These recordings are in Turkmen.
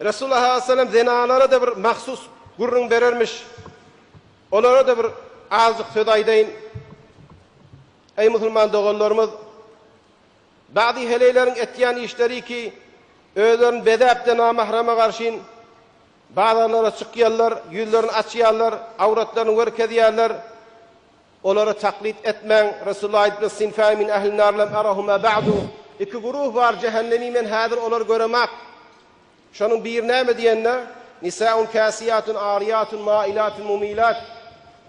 Resulullah sallallahu aleyhi ve sellem zenanlara-da bir mahsus gürrüň berermiş. Olara-da bir azjyk söz aýdaýyn. Eý musulman doganlarymyz, Bady heleýleriň etýän işleri ki, özlerini bezäp-de namahrama garşyn bazarlara çykýarlar, ýüzlerini açýarlar, awratlaryny görkezýärler. Olara taklyt etmäň, Resulullah aýdypdyr, Sinfani min ählin nar lem arahuma ba'du, Iki guruh bar jähennemi men häzir olary göremak. Şonuň biri näme diýende, Nisa'un kâsiýatun aryýatun mâilatun mumîlât,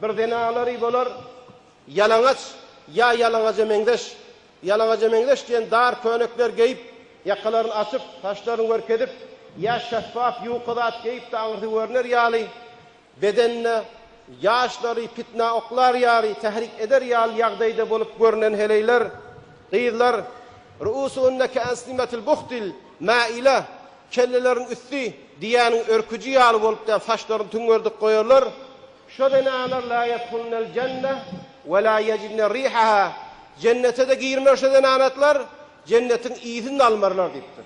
Bir zenanlary bolar, ýalaňaç ýa ýalaňaja meňzeş, ýalaňaja meňzeş diýen dar könekler geýip, ýakalaryny açyp, saçlaryny görkezip, ýa şeffaf ýuka zat geýip-de aňyrsy görner ýaly, Bedenine ýaşlary pitnä oklar ýaly tährik eder ýaly ýagdaýda bolup görünen heleýler, gyzlar, Ru'usuhunne ke'esnimetil buhtil ma'ile, Kelleleriň üsti diýäniň örküji ýaly bolup däp saçlaryny tüňňerdip goýarlar. Şo zenanlar la yedhulnel jenne we la yecidne rihaha, Jennete-de girmer şo zenanatlar, Jennetiň ysyny-da almarlar diýipdir.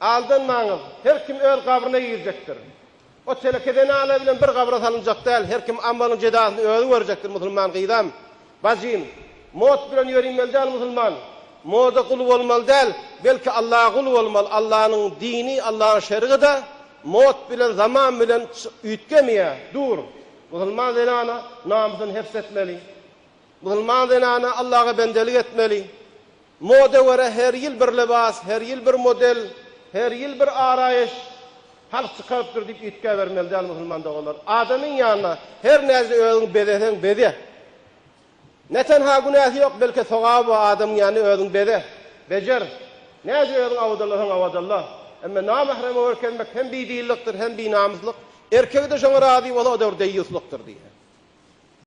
Aldanmaňyz, her kim öz gabryna girjekdir. O teleke zenana bilen bir gabra salynjak däl, her kim amalynyň jezasyny özi görjekdir, musulman gyzam, bajym, mot bilen ýörinmeli däl musulman, moda gul bolmaly däl, belki Allaha gul bolmaly, Allanyň dini, Allanyň şerigida mot bilen, zaman bilen üýtgemeýä, dur, musulman zenana namysyny heps etmeli, musulman zenana Allaga bendelik etmeli, Moda görä her ýyl bir lybas, her ýyl bir model, her ýyl bir araýyş, halk çykarypdyr diýip üýtgäbermeli däl musulman doganlar. Adamyň ýanyna her näce özüň bezeseň beze. Ne tenha günäsi ýok, belke sogaby bar, adamyň ýanyna özüň beze, bejer. Näce özüň awadalasaň awadalla. Emma namähreme görkezmek hem bidillikdir, hem binamyslyk. Erkegi-de şoňa razy bolsa o-da bir deýýuslykdyr diýýär.